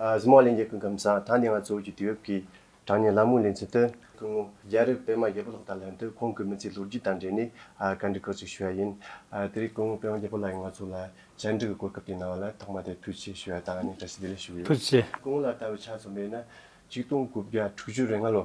གཟིགས་མོ་གླིང་རྒྱལ་ཁུལ་སྒམ་ཚང་ཐང་ནས་ང་ཚོ་བོད་ཀྱི་དུས་བབ་ཀྱི་དྲང་གནས་ལམ་ལྷོངས་ལེན་ཚུལ་དུ། སྐུ་ངོ་རྒྱ་རི་པད་མ་རྒྱལ་པོ་ལགས་དང་ལྷན་དུ་ཁོང་གི་མི་ཚེའི་ལོ་རྒྱུས་དང་འབྲེལ་ནས་བཀའ་འདྲི་སྐོར་ཅིག་ཞུ་བ་ཡིན། དེ་རིང་སྐུ་ངོ་པད་མ་རྒྱལ་པོ་ལགས་ཀྱིས་ང་ཚོ་ལ་བཅར་འདྲི་གི་གོ་སྐབས་དེ་གནང་བ་ལ་ཐོག་མ་དེར་ཐུགས་ཆེ་ཞུ་བ་དང་ནས་བཀྲ་ཤིས་བདེ་ལེགས་ཞུ་གི་ཡོད། ཐུགས་ཆེ། སྐུ་ངོ་ལ་ལྟ་བའི་ཆ་ཚང་མས་ན་ཆིག་སྟོང་དགུ་བརྒྱ་དྲུག་ཅུ་རེ་ལྔ་ལོ།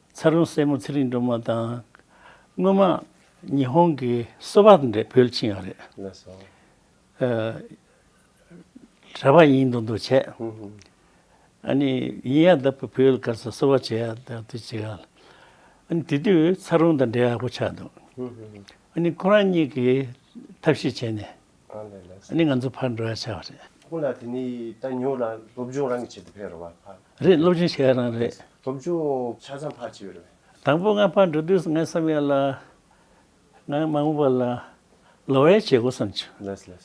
ཚ་རོང་སྲས་མོ་ཚེ་རིང་སྒྲོལ་མ་དང། སྔོན་མ། ཉི་ཧོང་གི་སོ་བ་འདྲེ་བོད་ཕྱིན་ཡོད་རེད། ན་སོ། གྲྭ་པ་ཡིན་འདུག་འདུག་བྱས། ཨ་ནི་ཡིན་ཡ་ད་བུ་བོད་སྐར་སོ་བ་བྱས་ཡ་ད་དུས་བྱས་ཡ། ཨ་ནི་དེ་དུས་ཚ་རོང་དང་འབྲེལ་ཡག་པོ་ཆགས་འདུག། ཨ་ནི་ཁོ་རང་གཉིས་ཀྱིས་ཐབས་ཤེས་བྱས་ནས། ནི་ང་ཚོ་ཕར་འགྲོ་ཡ་ཆགས་རེད། ཁོང་ལ་དེ་ནས་ད་ཉོ་ལ་སློབ་སྦྱོང་རང་གིས་བྱེད་དུ་ཕེབས་རོགས་བ་ཕར། རེད་སློབ་སྦྱོང་བྱེད་ཡ་རང་རེད། སློབ་སྦྱོང་ཆ་ཚང་ཕར་བྱེད་རོགས་བས། དང་པོ་ང་ཕར་འགྲོ་དུས་སུ་ངས་བསམ་ཡ་ལ། ང་མ་ངུ་བ་ལ། ལོ་བའི་བྱེད་སྒོ་བསམ་ཆུ།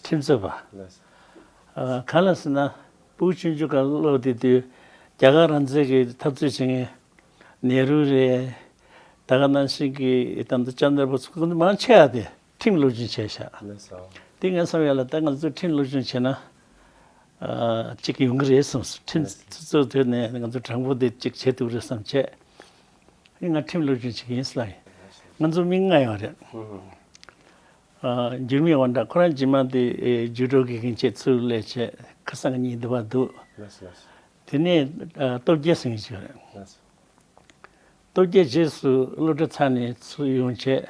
ཁྲིམས་རྩོད་པ། གང་ལ་ཟེར་ན་པུའུ་ཅུན་ཅུ་ག་ལ་སློབ་དེ་དུས་རྒྱ་གར་རང་བཙན་གྱི་འཐབ་རྩོད་བྱེད་མཁན་ནེ་རུ་རེད། ད་ག་ནང་བཞིན་གྱི་དང་དུ་ལྕམ་ནོར་བུ་ཚོ་མང་ཆེ་བ་དེ། ཁྲིམས་བློ་སྦྱོང་བྱས་ཤག། དེ་ངས་བསམ་ཡོད་ལ་ད་ང་ཚོས་ཁྲིམས་བློ་སྦྱོང་བྱས་ན། གཅིག་གི་ཡོང་གི་རེད་བསམ་སོང་ཁྲིམས་ཚུ་ཚོད་དོད་ནས་ང་ཚོ་དྲང་པོ་དེ་གཅིག་བྱེད་ཐུབ་རེད་བསམ་བྱས། ཨེ་ང་ཁྲིམས་བློ་སྦྱོང་བྱེད་ཀྱི་ཡིན་སི་ལ། ང་ཚོ་མི་ལྔ་ཡང་རེད། འགྱུར་མེད་དབང་གྲགས་ཁོ་རང་རྗེས་མ་དེ་རྒྱུགས་སྤྲོད་དགོས་མཁན་བཅས་ཚུར་ལས་བྱས་ཁ་སང་གཉིས་བསྡུ་བ་འདུག། དེ་ནས་སྟོབས་རྒྱལ་སེང་གེ་བྱས། སྟོབས་རྒྱལ་རྗེས་སུ་སློབ་གྲྭ་ཚང་ནས་ཚུགས་ཡོང་ཆེད།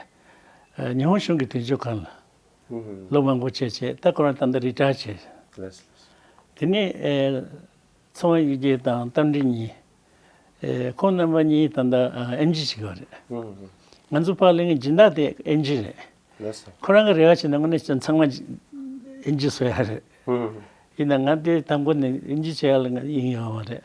ཉི་ཧོང་གཞུང་གི་དོན་གཅོད་ཁང་ལ་སློབ་མ་འགོ་བྱས་ཆེད་ལྟ་སྐོར་བ་ཏན་ཏན་རི་གྲགས་བྱས། དེ་ནས། ཚོང་བ་གཡུ་རྒྱལ་དང་རྟ་མགྲིན་གཉིས། ཁོང་རྣམ་པ་གཉིས་ད་ལྟ་ཨེམ་རྗི་བྱེད་ཀྱི་རེད། ང་ཚོ་ཕག་གླིང་གི་སྦྱིན་བདག་དེ་ཨེམ་རྗི་རེད། ཁོ་རང་གི་རེ་བ་བྱས་ན་དངོས་གནས་ཚང་མ་ཨེམ་རྗི་བཟོ་ཡག་རེད། ཡིན་ན་ང་དེ་དང་པོ་ནས་ཨེམ་རྗི་བྱེད་ཡག་ལ་ཡིན་ཡོང་བ་རེད།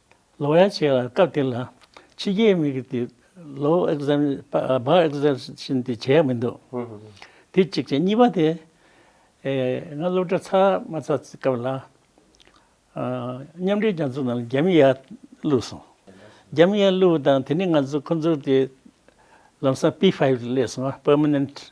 ལོ་ཡ་བྱས་ལ་སྐབས་དེ་ལ་ཕྱི་རྒྱལ་མི་རིགས་དེ་ལོ་བར Exemption དེ་བྱས་མི་འདུག་དེ་གཅིག་བྱས་གཉིས་པ་དེ་ང་སློབ་གྲྭ་ཚར་མ་ཚར་སྐབས་ལ་མཉམ་འབྲེལ་རྒྱ་མཚོ་ནང་རྒྱ་མི་ཡར་བསླུས་སོང་རྒྱ་མི་ཡར་བསླུས་པ་དང་དེ་ནས་ང་ཚོ་ཁོང་ཚོ་དེ་ལམ་སང P-Five ལས་སོང Permanent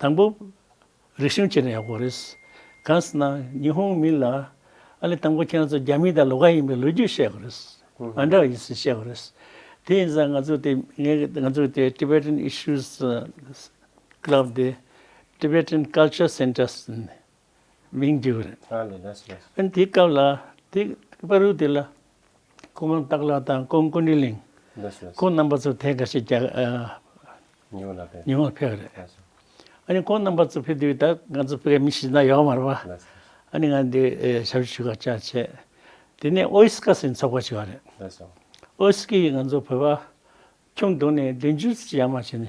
དང་པོ། རིག་གཞུང་སྤྱིར་ན་ཡག་པོ་རེད། གང་ཟེར་ན་ཉི་ཧོང་མི་ལ། ཨ་ལེ་དང་པོ་ཁྱེད་རང་ཚོ་རྒྱ་མི་དང་ལོག་ཀ་ཡིན་པའི་ལོ་རྒྱུས་བཤད་དགོས་རེད། མ་འདྲ་བ་ཡིན་ཟེར་བཤད་དགོས་རེད། དེ་ཡིན་ཙང་ང་ཚོ་དེ་ང་ཚོ་དེ Tibetan Issues Club དེ Tibetan Culture Centers མིང་བྲིས་པ་རེད། ཨན་དེའི་སྐབས་ལ་དེ་པར་རིས་དེ་ལ་ཁོང་རང་སྟག་ལ་དང་ཀོང་ཀོན་ཀྲི་ལིང་ཁོང་རྣམ་པ་ཚོ་དེ་ག་ཤེད་རྒྱ་ཉི་འོད་ལ་ཕེབས་ཉི་འོད་ལ་ཕེབས་རེད། ཨ་ནི་ཁོང་རྣམ་པ་ཚོ་ཕེབས་དུས་ད་ང་ཚོ་བོད་མི་ཤི་ན་ཡོག་མ་རེད་པ། ཨ་ནི་ང་འདི་ཞབས་ཕྱི་ཞུ་ག་བཅའ་བྱས། དེ་ནས་ཨོ་ཨིས་ཀ་སི་ཚོགས་པ་ཞིག་ཡོད་རེད། ཨོ་ཨིས་ཀི་ཡིས་ང་ཚོ་བོད་པ་ཁྱུང་དུང་ནས་བདུན་ཅུ་ཙི་ཡར་མར་བྱས་ནས་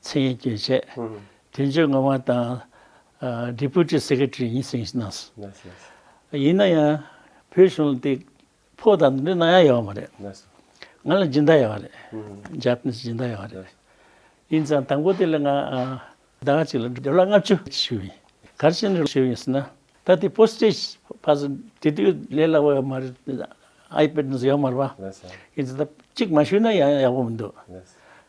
མཚན་སྙན་བསྐྱོན་བྱས། དོན་གཅོད་ངག་དབང་དང། Deputy Secretary ཡིན་ཟིན་གནང། ཡིན་ན་ཡང་བོད་གཞུང་ལ་དེ་ཕོག་དང་འདི་གནང་ཡག་ཡོད་པ་མ་རེད། ང་ལ་སྦྱིན་བདག་ཡོད་པ་རེད། Japanese སྦྱིན་བདག་ཡོད་པ་རེད། ཡིན་ཙང་དང་པོ་དེ་ལ་ང་ཟླ་ངག་ཅིག་ལ་སྦྱོར་ལ་ལྔ་བཅུ་ཞུས་ཡིན། ག་རེ་བྱས་ནས་ཞུས་ཡིན་ཟེར་ན། ད་དེ Postage ཕར་ཟིན་དེ་དུས་ལས་སླ་བོ་ཡོད་མ་རེད། iPad ཡོད་མ་རེད་པ། ཡིན་ཙང་གཅིག་མ་ཞུས་ན་ཡག་པོ་མི་འདུག།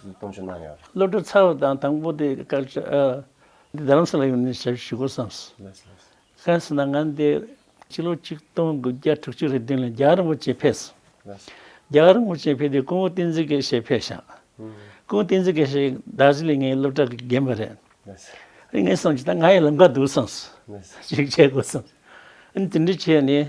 གཏོང་ཆོག་གནང་ཡོད། བློ་གྲོས་ཚ་བ་དང་དང་པོ་དེ་བཀག་ཆ། འདི་རང་ས་ལ་ཡོང་ནས་ཞབས་ཞུ་དགོས་བསམས། གལ་སྲིད་ན་ང་འདི་ཕྱི་ལོ་ཆིག་སྟོང་དགུ་བརྒྱ་དྲུག་ཅུ་རེ་བདུན་ལ་རྒྱ་གར་རིན་པོ་ཆེ་ཕེབས། རྒྱ་གར་རིན་པོ་ཆེ་ཕེབས་དུས་ཀུན་བུ་བསྟན་འཛིན་དགེ་བཤེས་ཕེབས་ཤག། ཀུན་བུ་བསྟན་འཛིན་དགེ་བཤེས་གདགས་གཞི་ལས་ངའི་སློབ་གྲྭ་གི་རྒན་པ་རེད། ངས་བསམས་ཀྱི་ད་ང་ཡི་ལམ་ཁ་འདུག་བསམས། ཞིག་བྱེད་དགོས་བསམས། དེ་འདྲ་བྱས་ནས་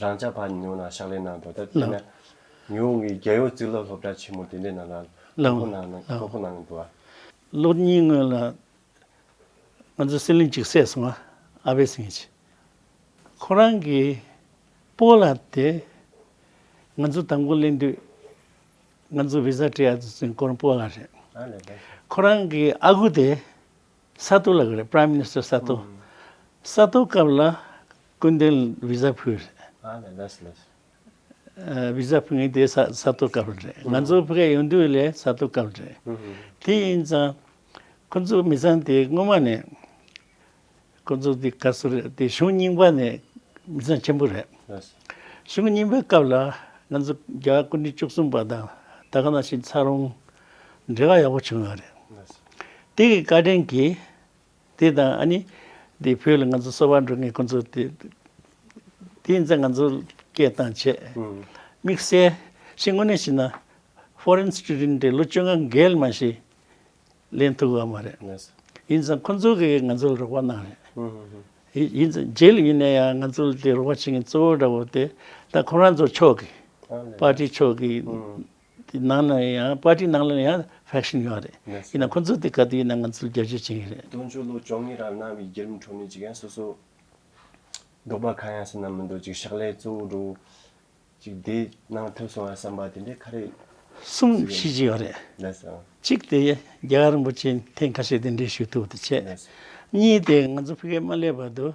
རང་ཅག་ཕ་ཉོ་ན་ཕྱག་ལེན་གནང་འགྲོ་དེར་བརྟེན་ན། ཉི་འོང་གི་རྒྱལ་ཡོངས་རྩིས་སློབ་སློབ་གྲྭ་ཆེན་མོ་དེ་འདྲའི་ནང་ན་སློབ་ཁོ་གནང་གི་འདུག་ཨ། ལོ་གཉིས་སྔོན་ལ་ང་ཚོའི་སྲིད་བློན་གཅིག་བསད་སོང་ཨ་བྷེ་སིང་ཧེ། ཁོ་རང་གི་སྤོ་ལ་དེ་ང་ཚོ་དང་པོ་གླེང་དུས་ང་ཚོ་བི་ཟ་སྤྲད་ཡག་དུས་ཚོད་འཁོར་སྤོ་ལ་རེད། ཁོ་རང་གི་ཨ་ཁུ་དེ། ས་ཐོ་ལགས་རེད Prime Minister ས་ཐོ། ས་ཐོ་སྐབས་ལ་ཀུན་དོན Visa ཕུལ་རེད། Visa ཕུལ་ངེས་དེ་ས་ཐོ་སྐབས་རེད། ང་ཚོ་ཕི་ཀ་ཡོང་དུས་ལས་ས་ཐོ་སྐབས་རེད། དེ་ཡིན་ཙང་ཁོ་ཚོ་མི་ཚང་དེ་སྔོན་མ་ནས་ཁོ་ཚོ་དེ་ག་ཚོད་རེད་དེ་གཞུང་རྙིང་པ་ནས་མི་ཚང་ཆེན་པོ་རེད། གཞུང་རྙིང་པའི་སྐབས་ལ་ང་ཚོ་རྒྱ་དཀར་སྐུ་ཕྲེང་བཅུ་གསུམ་པ་དང་ད་ག་ན་ཞིག་ཚ་རོང། འདྲེ་ག་ཡག་པོ་བྱུང་ཡོད་རེད། དེ་གི་བཀའ་དྲིན་གྱིས། དེ་དང་ཨ་ནི། དེ་བོད་ལ་ང་ཚོ་གསོ་བ་འགྲོ་མཁན་ཁོང་ཚོ་དེ། དེ་ཡིན་ཚེ་ང་ཚོ་སྐད་དང་བྱས། དམིགས་བསལ་ཞིག་དངོས་གནས་བྱས་ན། Foreign Student དེ་ལོ་བཅོ་ལྔ་འགལ་མ་ཞིག། ལེན་ཐུབ་ཡོད་མ་རེད། ཡིན་ཙང་ཁོང་ཚོ་གིས་ང་ཚོ་ལ་རོགས་པ་གནང་རེད། ཡིན་ཙང་རྗེས་ལུས་ཡིན་ན་ཡང་ང་ཚོ་ལ་དེ་རོགས་པ་བྱེད་མཁན་གཙོ་བོ་འདྲ་བོ་དེ། ད་ཁོང་རང་ཚོ་ཕྱོགས་ཀྱི། པར་ཏི་ཕྱོགས་ཀྱི། དེ་ནང་ན་ཡང་པར་ཏི་ནང་ལ་ཡང་ཧྥེ་ཤན་ཡོད་རེད་ཡིན་ན་ཁོང་ཚོ་དེ་ག་དུས་ཡིན་ན་ང་ཚོ་རྒྱལ་གཅེས་བྱེད་ངེས་རེད། དུང་ཕྱུར་ལོ་བཅོ་ལྔའི་རབས་གནང་བའི་རྒྱལ་རིམ་འཕྲོ་མོའི་འཇིག་རྟེན་སོ་སོ། འབྲོག་པ་གང་ཡང་སེམས་ན་མི་འདུག་ཅིག་ཕྱག་ལས་གཙོ་བོ་འགྲོ། ཅིག་དེ་གནང་ཐུབ་སོང་བ་བསམ་པ་དེ་འདྲས་ཁ་རས། གསུམ་བྱེད་ཀྱི་ཡོད་རེད། གཅིག་དེ་རྒྱལ་བ་རིན་པོ་ཆེ་ཐེངས་ཁ་ཤས་དེ་འདྲས་ཞུས་ཐུབ་དེ་བྱས། གཉིས་དེ་ང་ཚོ་ཕི་ཀའི་མ་སླེབས་བར་དུ།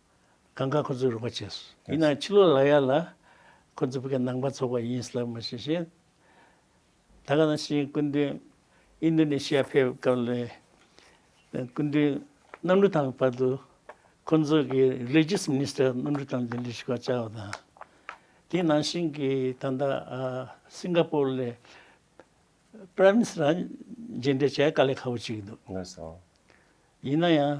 གང་དགའ་ཁོ་ཚོའི་རོགས་པ་བྱས་སོ། ཡིན་ནའང་ཕྱི་ལོ་ལ་ཡར་ལ་ཁོ་ཚོ་བོད་ཀྱི་ནང་པ་ཚོགས་པ་ཡིན་སླད་མ་ཤེས་ཤིང། ད་ག་ནང་ཤེས་སྐུ་མདུན་ཨིན་རྡུ་ནེ་ཤི་ཡ་ཕེབས་སྐབས་ལོའི་སྐུ་མདུན་གནམ་གྲུ་དང་བར་དུ་ཁོ་ཚོ་གི Religious Minister གནམ་གྲུ་དང་འདི་འདྲའི་ཞུ་སྐག་བཅའ་བ་དང། དེའི་ནང་བཞིན་གྱི་ད་ལྟ Singapore ལས Prime Minister རང་མཇལ་འཕྲད་བྱས་དཀའ་ལས་ཁག་པོ་བྱེད་ཀྱི་འདུག། ཡིན་ན་ཡང།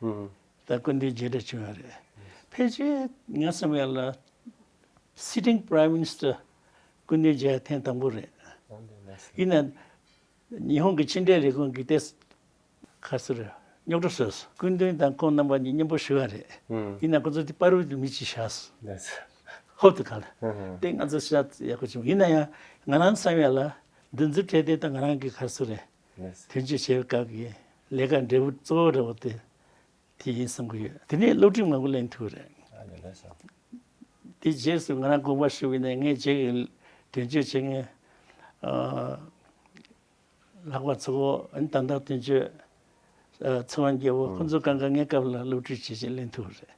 ད་སྐུ་མདུན་མཇལ་འཕྲད་བྱུང་ཡོད་རེད། ཕལ་ཆེར་ངའི་བསམ་ཡས་ལ། Sitting Prime Minister། སྐུ་མདུན་མཇལ་ཡ་ཐེངས་དང་པོ་རེད། ཡིན་ནའི། ཉི་ཧོང་གི་ཕྱི་འབྲེལ་ལས་ཁུངས་ཀྱི་ལྟེ། ཁ་སེར། རྙོག་གྲ་བཟོས་སོང། སྐུ་མདུན་དང་ཁོང་རྣམ་པ་གཉིས་མཉམ་པོ་ཞུ་ཡ་རེད། ཡིན་ནའི་ཁོང་ཚོ་དེ་དཔའ་རུལ་གྱི་མི་གཅིག་ཤག་སོང། ཧོབ་ཏུ་ག་ལ། དེ་ང་ཚོ་ཤ་ཡག་པོ་བྱུང། ཡིན་ན་ཡང། ང་རང་བསམ་ཡས་ལ། འདི་འཛུགས་འཕྲལ་དེ་ད་ང་རང་གི་ཁ་སུ་རེད། དོན་གཅོད་བྱེད་པའི་སྐབས་ཀྱི་ལས་ཀ་འབྲས་བུ་གཙོ་བོ་རེད་བ་དེ་དེ་ཡིན་བསམ་གྱི་ཡོད་དེ་ནས་སློབ་ཁྲིད་མང་པོ་གླེང་ཐུབ་རེད། དེ་རྗེས་སུ་ང་རང་དགོངས་པ་ཞུ་གི་ནས་ངས་བྱེད་གི་དོན་གཅོད་བྱེད་མཁན། ལྷག་པ་ཚོ་ད་ལྟ་དོན་གཅོད་ཚེ་དབང་རྒྱལ་པོ་ཁོང་ཚོ་གང་ག་ངའི་སྐབས་ལ་སློབ་ཁྲིད་བྱེད་བྱེད་གླེང་ཐུབ་རེད་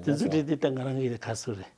དེ་ཚོ་ཁྲིད་དེ་ད་ང་རང་གི་ཁ་སུ་རེད།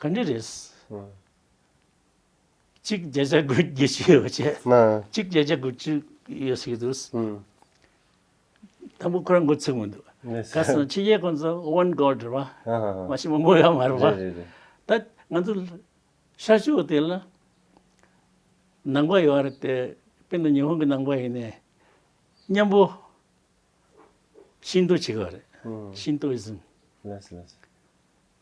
ག་འདྲི་རེད། གཅིག་བརྒྱ་ཆ་དགུ་བརྒྱ་ཞིག་ཡོད་བྱས། གཅིག་བརྒྱ་ཆ་དགུ་བཅུ་ཡོད་ཟེར་གྱི་འདུག། དང་པོ་ཁོ་རང་འགོ་ཚུགས་མི་འདུག། ག་ས་ཕྱི་རྒྱལ་ཁོང་ཚོ་དབོན་གོར་འདྲི་བ། མ་གཞི་མོ་མགོ་ཡོད་མ་རེད་བ། ད་ང་ཚོ་ཤར་ཕྱོགས་དེ་ལ་ནང་པ་ཡོད་རེད་དེ་དཔེར་ན་ཉི་ཧོང་གི་ནང་པ་ཡིན་ནའི་གཉན་པོ་ཤིན་ཏོ་བྱེད་གི་རེད། ཤིན་ཏོ་ཨིཟིམ།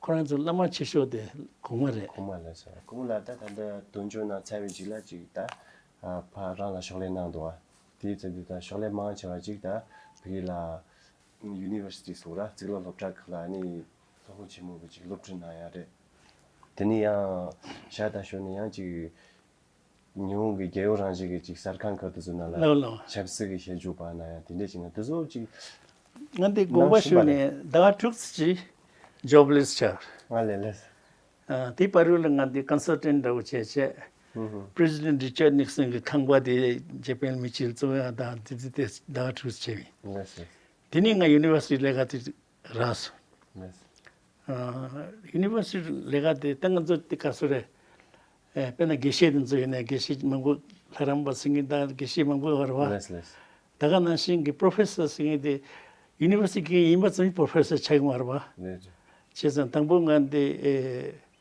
ཁོ་རང་ཚོ་བླ་མ་ཆེ་ཤོས་དེ་གོང་མ་རེད། གོང་མ་རེད་ཟེར་བ་གོང་ལ་ད་ད་འདི་དོན་ཆུང་ནང་ཚལ་བའི་ཅིག་ལ་ཅིག་ད་ཕ་རང་ལ་ཕྱོགས་ལས་གནང་འདུག་བ་དེའི་ཚེ་འདི་ད་ཕྱོགས་ལས་མང་ཆེ་བ་ཅིག་ད་བོད་ཡིག་ལ། University སོགས་ར་བརྩིགས་ལ་སློབ་གྲྭ་ཁག་ལ་ནི་ལྷོ་ཁོ་ཆེན་མོ་བོ་ཅིག་སློབ་ཁྲིད་གནང་ཡ་རེད། དེ་ནི་ཡང་ཤར་དང་ཞོར་ནས་ཡང་ཅིག། ཉི་ཧོང་གི་རྒྱལ་ཡོངས་རང་བཞིན་གྱི་གཅིག་གསར་ཁང་ཁག་དེ་ཚོ་ནང་ལ་ཆབ་སྲིད་ཀྱི་ཞལ་འཇུག་པ་ན་ཡང་དེ་འདྲས་བྱས་ན་དེ་ཚོ་གཅིག་ང་འདི་དགོངས་པ་ཞུས་ནས་ཟླ་བ་དྲུག་ཅིག Jobless བྱས། ང་ལས་ལས། དེའི་བར་རོལ་ལ་ང་འདི Consultant འདྲ་བོ་བྱས་བྱས President Richard Nixon གི་ཁང་པ་དེ Japan མི་ཆེན་གཙོ་བོ་ཡང་དང་དེ་དེ་དེ་ཟླ་བ་དྲུག་བྱས། དེ་ནས་ང University ལས་ཀ་དེ་རེས University ལས་ཀ་དེ་ཏན་ག་ཚོད་དེ་ག་ཚོད་རེད་དཔེར་ན་དགེ་བཤེས་དེ་ཚོ་ཡིན་ན་དགེ་བཤེས་མང་པོ་ལྷ་རམས་པ་སེང་གེ་དང་དགེ་བཤེས་མང་པོ་ཡོད་རེད་བ། ད་ག་ནང་བཞིན་གྱི Professor སེང་གེ་དེ University གི་ཡིན་པ་ཙམ་གྱིས Professor ཆགས་ཡོང་བ་རེད་བ། བྱས་ཙང་དང་པོ་ང་དེ་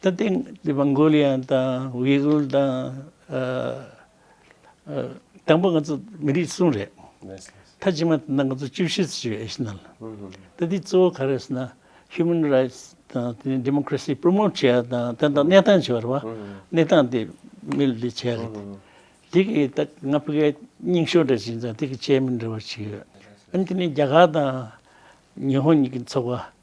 ད་ཐེངས་ཀྱི་མོང་གོ་ལི་ཡ་དང་ཝེ་གྷུལ་དང། དང་པོ་ང་ཚོ་མི་རིགས་གསུམ་རེད། མཐའ་ཕྱི་མ་དེ་འདྲ་ང་ཚོ་བཅུ་བཞི་ཚོ་བྱོས་ཨེ་ཤི་ནང་ལ། ད་ཐེངས་གཙོ་བོ་ག་རེ་ཟེར་ན Human Rights དང་དེ་ནས Democracy Promote བྱས་པ་དང་དེ་དང་གནས་སྟངས་བྱས་པ་རེད་བ། གནས་སྟངས་དེ་མི་ལ་དེ་བྱས་རེད། དེ་གི་ད་ང་ཕི་གའི་སྙིང་ཤོག་འདྲ་བྱིན་ཙང་དེ་གི Chairman འདྲ་བ་བྱིན་ཡོད། ཨན་དེ་ནས་རྒྱ་གར་དང་ཉི་ཧོང་གཉིས་ཀྱི་ཚོགས་པ།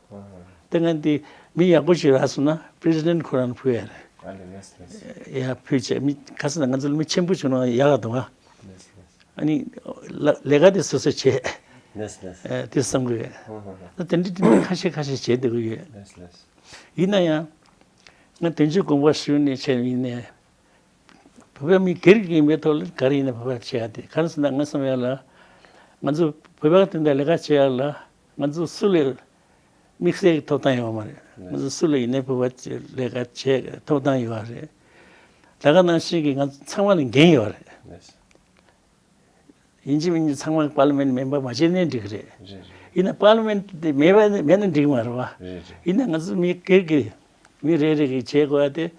ལྟས་ངན་དེ་མི་ཡག་པོ་ཞིག་རག་སོང་ན president ཁོ་རང་ཕུལ་ཡ་རེད་ཡ་ཕུལ་ཆད་མི་ག་ས་ན་ང་ཚོ་ལ་མི་ཆེན་པོ་བྱུང་ན་ཡག་ཡག་འདུག་ཨ་ནི་ལས་ཀ་དེ་སོ་སོས་བྱས་དེ་བསམ་གི་ཡོད་དེ་འདྲི་དེ་འདྲི་ཁ་ཤས་ཁ་ཤས་བྱས་བསྡད་གི་ཡོད་ཡིན་ན་ཡང་ང་དོན་གཅོད་དགོངས་པ་ཞུ་ནས་བྱས་ནས་ཡིན་ནས་བོད་པའི་མི་སྒེར་གྱི་ཡིན་པའི་ཐོག་ལ་ག་རེ་ཡིན་ན་བོད་པ་བྱས་ཡ་དེ་ག་ས་ན་ང་བསམ་ཡ་ལ་ང་ཚོ་བོད་པ་དེ་འདྲ་ལས་ཀ་བྱས་ཡ་ལ་ང་ཚོ་སུ་ལས་དམིགས་བསལ་གྱི་ཐོབ་ཐང་ཡོད་པ་མ་རེད། ང་ཚོ་སུ་ལས་ཡིན་ན་ཕུད་པ་བྱེད་ལས་ཀ་བྱེད་ཀྱི་ཐོབ་ཐང་ཡོད་པ་རེད། ད་ག་ནང་བཞིན་གྱི་ང་ཚོ་ཚང་མ་ལ་འགན་ཡོད་པ་རེད། ཡིན་གཅིག་མིན་གཅིག་ཚང་མ་པཱ་ལི་མེན་མེན་པར་མ་བྱས་ནས་འགྲིག་གི་རེད། ཡིན་ན་པཱ་ལི་མེན་དེ་མེད་པ་མེད་ན་འགྲིག་མ་རེད་པཱ། ཡིན་ན་ང་ཚོ་མི་སྒེར་གྱི་མི་རེ་རེ་གིས་བྱེད་དགོས་པ་དེ།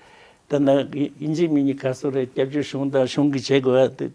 ད་ནང་ཡིན་གཅིག་མིན་གཅིག་ག་སོ་རེ་སྐྱབས་བཅོལ་གཞུང་དང་གཞུང་གིས་བྱེད་དགོས་པ་དེ།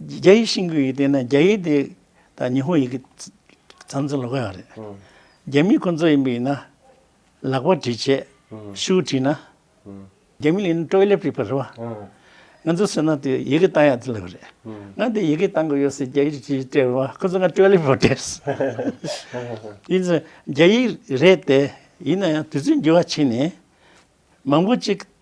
རྒྱ་ཡིག་ཤེས་མཁན་ཡིན་དེ་ན་རྒྱ་ཡིག་དེ་དང་ཉི་ཧོང་ཡིག་གི་མཚམས་མཚམས་ལོག་ཡོད་རེད། རྒྱ་མི་ཁོང་ཚོ་ཡིན་པ་ཡིན་ན་ལག་པ་བྲིས་བྱས་ཤུགས་བྲིས་ན། རྒྱ་མི་ལ་ཡིན་ན་ཀྲོའི་ལེབ་བྲིས་པ་རེད་བ། ང་ཚོ་བསོད་ནམས་དེ་ཡི་གེ་བཏང་ཡག་ཚུལ་ལབ་རེད། ང་དེ་ཡི་གེ་བཏང་གི་ཡོད་སེ་རྒྱ་ཡིག་གིས་བྲིས་བ་ཁོང་ཚོ་ང་ཀྲོའི་ལེབ་བྲིས་བྲིས། ཡིན་ཟེར་རྒྱ་ཡིག་རེད་དེ་ཡིན་ན་ཡང་དུས་ཚོད་འགྱུར་བ་ཕྱིན་ནས་མང་པོ་ཅིག་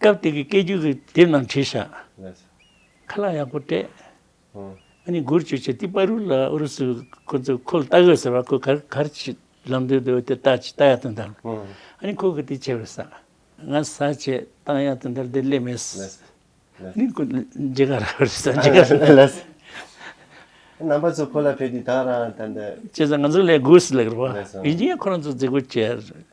སྐབས་དེ་གི་སྐད་རྒྱུད་ཀྱི་དེབ་རྣམས་བྲིས་བཞག། ཁ་ལག་ཡག་པོ་སྤྲད། ཨ་ནི་སྒུར་བྱོས་ཆེ་ཏི་པ་རུ་ལ་ཨུ་རུ་སུ་ཁོ་ཚོས་ཁོ་ལ་ལྟ་གོས་ཟེར་བ་ཁོ་གར་གར་ཆིད་ལམ་དུ་འདུག་དེར་ལྟ་ཅི་ལྟ་ཡག་ཏུ་འདར། ཨ་ནི་ཁོ་གི་དེ་བྱས་པའི་ས། ང་ས་བྱས་སྟངས་ཡག་ཏུ་འདར་དེ་སླེབས་མེད། ཨ་ནི་ཁོ་འཇི་ག་ར་བར་ས་འཇི་ག་ར་ལ། རྣམ་པ་ཚོ་ཁོ་ལ་ཕེབས་ཏི་ད་ར་ད་འདར། བྱས་ཙང་ང་ཚོ་ལས་སྒུག་སི་ལེགས་ར་བ། ཡིན་ཅིང་ཡང་ཁོ་རང་ཚོ་རྫི་གུ་བྱས།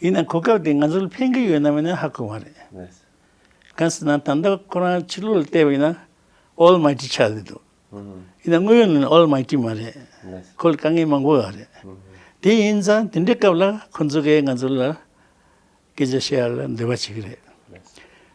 ཡིན་ནའང་གོ་སྐབས་དེ་ང་ཚོ་ལ་ཕན་གྱི་ཡོད་ནམ་མེད་ནི་ཧ་གོ་མ་རེད། གང་ཟེར་ན་ད་ལྟ་ཁོ་རང་ཕྱི་ལོག་ལ་བལྟས་པ་ཡིན་ན་ཨོལ་མ་ཀི་ཆགས་ཀྱི་འདུག་ཡིན་ན་དངོས་ཡོད་ནང་ནས་ཨོལ་མ་ཀི་མ་རེད། ཁོ་ལ་དཀའ་ངལ་མང་པོ་ཡོད་རེད། དེ་ཡིན་ཙང་དེ་འདྲའི་སྐབས་ལ་ཁོ་ཚོ་གས་ང་ཚོ་ལ་སྐད་ཆ་བཤད་ཡ་ལ་འདོད་པ་བྱེད་ཀྱི་རེད།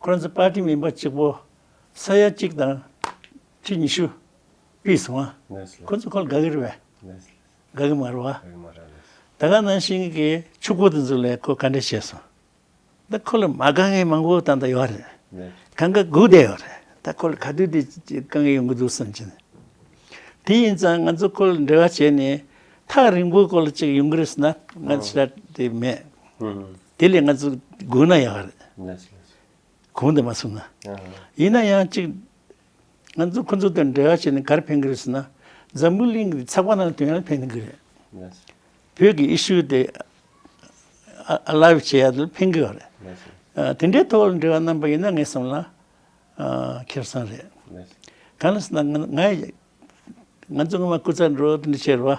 ཁོ་ཚོའི་པར་ཏི་མིན་པ་གཅིག་པོ་ས་ཡ་གཅིག་དང་ཁྲི་ཉི་ཤུ་བུད་སོང་བ། ཁོ་ཚོ་ཁོ་ལ་དགའ་གི་རེད་བས། དགའ་གི་མ་རེད་བ། ད་ག་ནང་བཞིན་གི་ཆུ་སྒོ་དེ་ཚོ་ལས་ཁོ་ག་འདྲ་བྱས་སོང། ད་ཁོ་ལ་མ་དགའ་མཁན་མང་པོ་ད་ལྟ་ཡོད་རེད། གང་ག་སྒུག་བསྡད་ཡོད་རེད། ད་ཁོ་ལ་ག་དུས་དེ་དཀའ་ངལ་ཡོང་གི་འདུག་བསམ་གྱི། དེ་ཡིན་ཙང་ང་ཚོ་ཁོ་ལ་འབྲེལ་བ་བྱས་ནས་ཐག་རིང་པོ་ཁོ་ལ་ཅིག་ཡོང་གི་རེད་ཟེར་ན་ང་ཚོ་ཞེ་དྲག་དེ་མེད། དེ་ལས་ང་ཚོ་དགོས་ན་ཡག་རེད། གོང་དུ་མ་སོང་ན། ཡིན་ན་ཡང་གཅིག་ང་ཚོ་ཁོ་ཚོ་དང་འབྲེལ་བ་བྱས་ནས་གར་ཕན་གི་རེད་ཟེར་ན། འཛམ་བུའི་གླིང་གི་ཚགས་པར་ནང་དོན་ཡང་ཕན་གི་རེད། བོད་ཀྱི issue དེ alive བྱེད་ཡག་དུ་ཕན་གི་ཡོད་རེད། དེ་འདྲའི་ཐོག་ལ་འབྲེལ་བ་གནང་པ་ཡིན་ན་ངའི་བསམ་ལ་ཁེར་སང་རེད། གང་ལ་ཟེར་ན་ང་ཡི། ང་ཚོ་སྔོན་མ་སྐུ་ཚབ་འགྲོ་འདི་ཆེ་རུ་བ།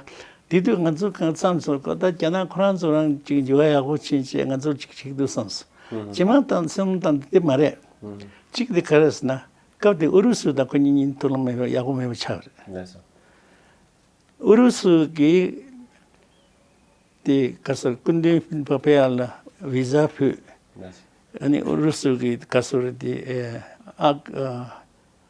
དེ་དུས་ང་ཚོ་གང་བསམ་སོང་ད་ལྟ་རྒྱ་ནག་ཁོ་རང་ཚོ་རང་ཅིག་འགྱུར་བ་ཡག་པོ་ཕྱིན་ཆད་ང་ཚོར་ཅིག་ཕྱིག་འདུག་བསམ་སོང། ཇེ་མང་དང་སེམས་དང་འདི་དེ་མ་རེད། གཅིག་དེ་ག་རེད་ཟེར་ན་སྐབས་དེ་ཨུ་རུ་སུ་དང་ཁོ་གཉིས་གཉིས་ཐུགས་ལམ་མེད་པའི་ཡག་པོ་མེད་པའི་ཆ་རེད། ཨུ་རུ་སུ་གིས་དེ་ག་སར་སྐུ་མདུན་པཱོ་པེ་ཡཱ་ལ་བི་ཟ་ཕུལ། ཨུ་རུ་སུ་གིས་ག་སར་དེ་ཨ།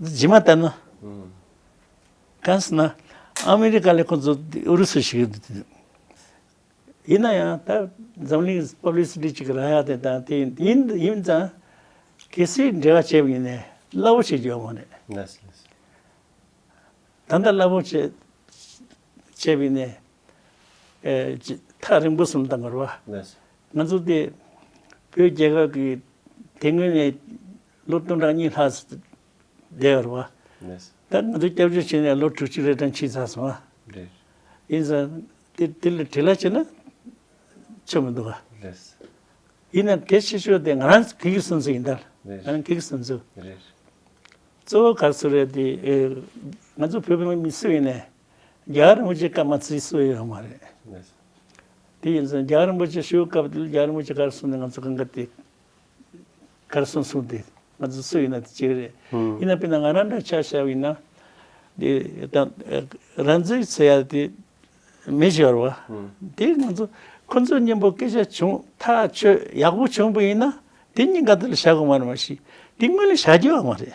འདི་ཇི་མ་ལྟར་ན། གང་ཟེར་ན་ཨ་མི་རི་ཀ་ལས་ཁོ་ཚོ་ཨུ་རུ་སུ་ཞིག་ཡིན་ན་ཡང་ད་འཛམ་གླིང་པབ་ལི་སི་ཏི་ཅིག་རང་ཡང་དེ་དང་དེ་ཡིན་ཡིན་ཙང་གལ་སྲིད་འབྲེལ་བ་བྱེད་པ་ཡིན་ནས་སླ་བོ་བྱེད་རྒྱུ་ཡོང་གི་མེད། ད་ལྟ་སླ་བོ་བྱེད་བྱེད་པ་ཡིན་ནས་ཐག་རིང་པོ་སོང་དང་འགོར་བ། ང་ཚོ་དེ་བོད་རྒྱལ་ཁབ་ཀྱི་དེ་སྔོན་ནས། ལོ་སྟོང་ཕྲག་གཉིས་ལྷག་བསྡད་ཡོད་རེད། ད་ང་ཚོ་སྐྱབས་བཅོལ་བྱས་ནས་ལོ་དྲུག་ཅུ་རེ་དང་ཕྱིན་ཚར་སོང་ཨ། ཡིན་ཙང་དེ་ལ་དྲིས་ལན་བྱས་ན་ཆོ་མི་འདུག་ག། ཡིན་ནའང་དེ་ཕྱི་ཕྱོགས་དེ་ང་རང་གི་གིས་སོན་ཚུལ་ཡིན་ད། ང་རང་གིས་སོན་ཚུལ། གཙོ་བོ་ག་ཚོད་རེད་དེ་ང་ཚོ་བོད་པའི་མི་སུ་ཡིན་ནས་རྒྱ་གར་རིན་པོ་ཆེ་བཀའ་མ་ཚིག་སུ་ཡོད་མ་རེད། དེ་ཡིན་ཙང་རྒྱ་གར་རིན་པོ་ཆེ་བཞུགས་སྐབས་དེ་རྒྱ་གར་རིན་པོ་ཆེ་གར་སོང་ནས་ང་ཚོ་གང་ག་དེ་ག་རེ་སོང་གསུངས་ཏེ་ང་ཚོ་སུ་ཡིན་ན་དེ་གཅིག་རེད། ཡིན་ན་ཕན་ན་ང་རང་འདྲ་ཆགས་ཞབས་ཡིན་ན། དེ་རང་ཚུགས་ཚེ་ཡ་དེ་མི་ཤོར་བ། དེ་ང་ཚོ་ཁོ་ཚོའི་སྙིང་པོ་སྐད་ཆ་བྱུང་ཐག་ཆོད་ཡག་པོ་བྱུང་པ་ཡིན་ན་དེ་སྙིང་ག་དེ་ལ་བཞག་གོ་མ་རེད་མ་གཞི་དེ་དངོས་ལས་བྱ་རྒྱུ་ཡང་མ་རེད།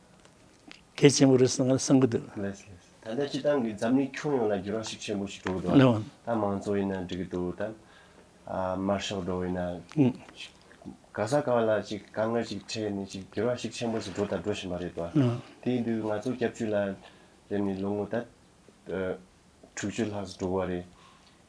གལ་ཆེན་པོ་རེད་བསམ་གྱི་འདུག། ད་ལྟ་སྤྱི་བཏང་གི་འཛམ་གླིང་ཁྱོན་ཡོངས་ལ་འགྱུར་བ་ཞིག་ཆེན་པོ་ཞིག་འགྲོ་གི་འདུག་ད་མང་གཙོ་ཡིན་ན་འགྲིག་གི་འདུག་ད། དམར་ཤོག་འགྲོ་ཡིན་ན། ག་ས་ག་བ་ལ་ཅིག་དཀའ་ངལ་ཅིག་འཕྲད་ནས་ཅིག་འགྱུར་བ་ཞིག་ཆེན་པོ་ཞིག་འགྲོ་དང་འགྲོ་བཞིན་པ་རེད་དོ། དེའི་དུས་ང་ཚོ་སྐྱབས་བཅོལ་ལ་བསྡད་ནས་ལོ་ངོ་ད། དྲུག་ཅུ་ལྷག་འགྲོ་གི་བ་རེད།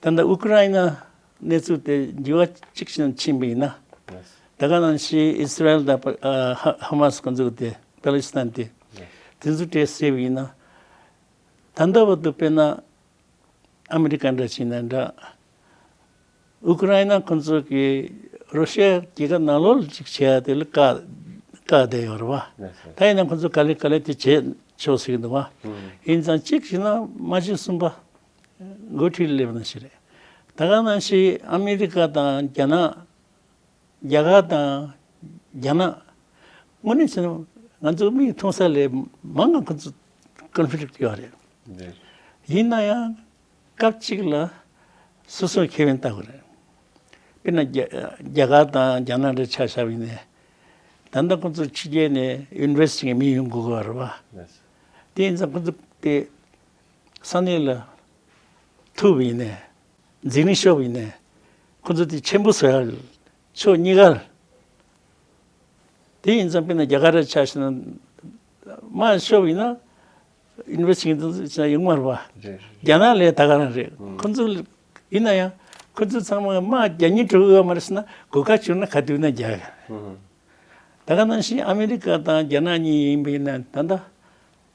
ད་ལྟ་ཨུ་ཀི་རཱའི་ན་གནས་ཚུལ་དེ་འགྱུར་བ་གཅིག་ཅན་དུ་ཕྱིན་པ་ཡིན་ན། ད་ག་ནང་ཕྱིའི་ཨི་སི་རལ་དང་ཧ་མཱ་སི་ཁོ་ཚོ་དེ་པཱ་ལི་སི་ཐན་དེ་དེ་ཚོ་གྲས་བསྲེས་པ་ཡིན་ན། ད་ལྟ་བར་དུ་དཔེར་ན་ཨ་མི་རི་ཀ་འདྲ་བྱས་ན་འདྲ། ཨུ་ཀི་རཱའི་ན་ཁོ་ཚོ་གིས་རོ་ཤི་ཡའི་རྒྱལ་ཁབ་ནང་ལོག་ཅིག་བྱས་ཡ་དེ་ལ་བཀག་བསྡད་ཡོད་རེད་བ། ད་ཡིན་ན་ཁོ་ཚོ་ག་ལེ་ག་ལེ་དེ་བྱས་ཆོག་སྲིད་འདུག་བ། ཡིན་ཙང་གཅིག་བྱས་ན་མ་གཅིག་གསུམ་པ། འགོ་ཁྲིད་སླེབས་ན་ཞིག་རེད། ད་ག་ན་ཞིག་ཨ་མི་རི་ཀ་དང་རྒྱ་ནག། རྒྱ་གར་དང་རྒྱ་ནག། དངོས་གནས་བྱས་ན་ང་ཚོ་མིག་མཐོང་ས་ལས་མང་ང་ཚོ Conflict ཡོད་རེད། ཡིན་ན་ཡང་སྐབས་གཅིག་ལ་སོ་སོའི་ཁེ་ཕན་ལྟ་དགོས་རེད། དཔེར་ན་རྒྱ་གར་དང་རྒྱ་ནག་འདྲ་ཆགས་ཞབས་ཡིན་ནས། ད་ལྟ་ཁོང་ཚོ་ཕྱི་རྒྱལ་ནས Invest བྱེད་མཁན་མི་ཡོང་དགོས་གི་རེད། དེ་ཡིན་ཙང་ཁོང་ཚོ་དེ། ས་གནས་ལ། ཐུབ་བས་ནས། འཛིན་རིང་ཤོག་བས་ནས། ཁོ་ཚོ་དེ་ཆེན་པོ་ཟེར་ཡ་རེད། ཕྱོགས་གཉིས་ཀ། དེ་ཡིན་ཙང་དཔེར་ན་རྒྱ་གར་ར་ཆགས་ཤིག་ན། དམའ་ཤོག་བས་ན། ཡུང་མར་བ། རྒྱ་ནག་ལས་ད་ག་རང་རེད། ཁོ་ཚོ། ཡིན་ན་ཡང། ཁོ་ཚོ་ཚང་མ་དམའ་བརྒྱ་སྙིགས་དྲུག་གཡོ་མ་རེད་ཟེར་ན་གོ་དཀའ་བྱུང་ན་ག་དུས་ན་རྒྱ། ད་ག་ནང་བཞིན་ཨ་མི་རི་ཀ་དང་རྒྱ་ནག་གཉིས་ཡིན་པས་ན་ད་ལྟ།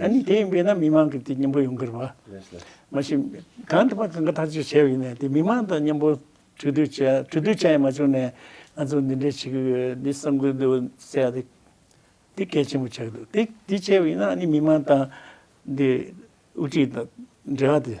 ཨ་ནི་དེ་ཡིན་པས་ན་མི་མང་གི་དེ་སྙིང་པོ་ཡོང་གི་རེད་བ། མ་གཞི་གང་དུ་པ་གང་ག་ཐག་གཅོད་བྱས་ཡིན་ནས་དེ་མི་མང་དང་སྙིང་པོ་གྲོས་བསྡུར་བྱས་གྲོས་བསྡུར་བྱས་ཡང་མ་བྱུང་ནས་ང་ཚོ་འདི་འདྲའི་བྱེད་ཀྱི་ཡོད་འདི་གསར་འགོད་འདུག་ཟེར་ཡ་དེ་དེ་གལ་ཆེན་པོ་ཆགས་འདུག་དེ་དེ་བྱས་པ་ཡིན་ན་ཨ་ནི་མི་མང་དང་འདི་དབུ་ཁྲིད་དང་འབྲེལ་བ་དེ།